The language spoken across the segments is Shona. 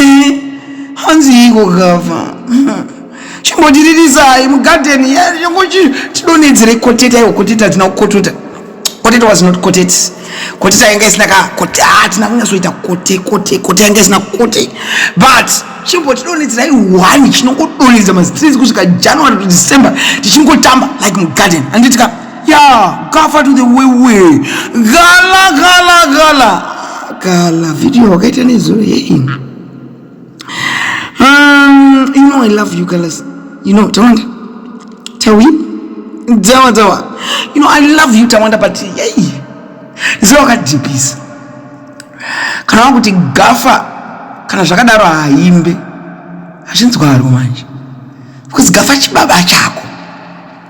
Eh, hanziiko gava chimbotiririsai mugadheni tidonedzere koteta iwo koteta hatina kukotota koteta was not kotet koteta yanga isina ka kote hatina kunyasoita kote kote kote yanga isina kote but chimbotidonedzerai one chinongodonedza mastrins kusvika january to december tichingotamba like mugadheni handitika Yeah, cover to the way way. Gala gala gala. Gala video wakaita nezuro yei. Um, you know I love you guys. You know, Tawanda. Tawi. Tawa tawa. You know I love you Tawanda but yei. Zio wakajipisa. Kana kuti gafa kana zvakadaro haimbe. Hazvinzwaro manje. Because gafa chibaba chako.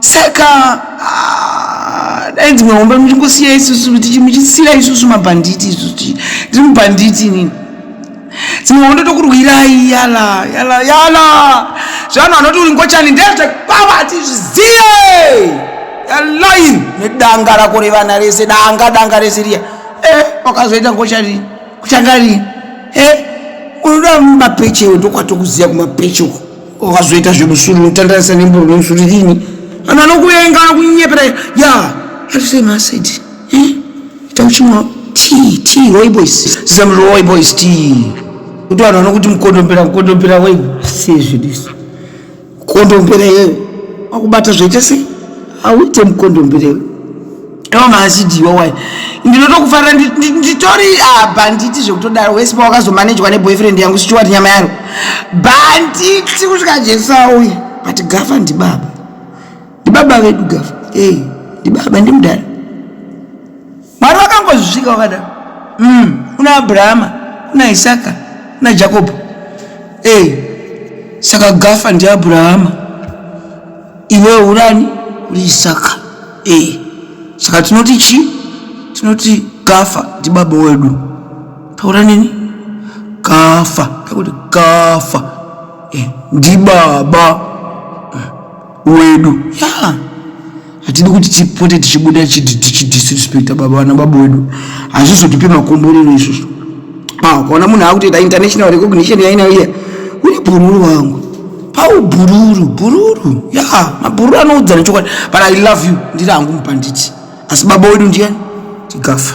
saka ah, dai dzimwe hombe muchingosiya isusu tichimuchisiya isusu mabhanditi isusu tiri mubhanditi nini dzimwe hondo tokurwirai yala yala yala zvanhu anoti uri ngochani ndezvekwava hatizvizive yalain nedanga rako revana rese danga danga rese riya e eh, wakazoita ngochani kuchanga rii e eh, unoda mapeche ndokwatokuziva kumapeche uko wakazoita zvemusuri unotandarisa nemboro nemusuri rini vanhu vanokuvenga vanokunyepera ya atisema asidi eh? ita uchimwa tii tii roy boys zam roy boys tii kuti vanhu vanokuti mukondombera mukondombera wei sezvidisi kondombera iyeyo wakubata zvoita sei auite mukondombera iwe Toma achiti yowai ndinotokufarira nditori apa ah, nditi zvekutodaro wese pawakazomanejwa neboyfriend yangu sichiwati nyama yaro banditi kusvika jesu auye but gafa ndibaba ndibaba vedu gafa ey ndibaba ndimudhara mwari vakangozvisvika wakadaro mm, kuna abrahama kuna isaka kuna jakobho ey saka gafa ndiabrahama iwe urani uri isaka e saka tinoti chi tinoti gafa ndibaba wedu taura nini gafa takuti gafa e ndibaba eh, wedu ya yeah hatidi kuti tipote tichibuda tichidisrespecta baba vana baba wedu hazvizotipe makomborero izvozvo ah, ukaona munhu akutoita international recognition yainayo iya uri bhururu wangu Pau bhururu bhururu ya yeah, mabhururu anoudzana chokwadi but i love you ndiri hangu mupanditi asi baba wedu ndiyani tikafa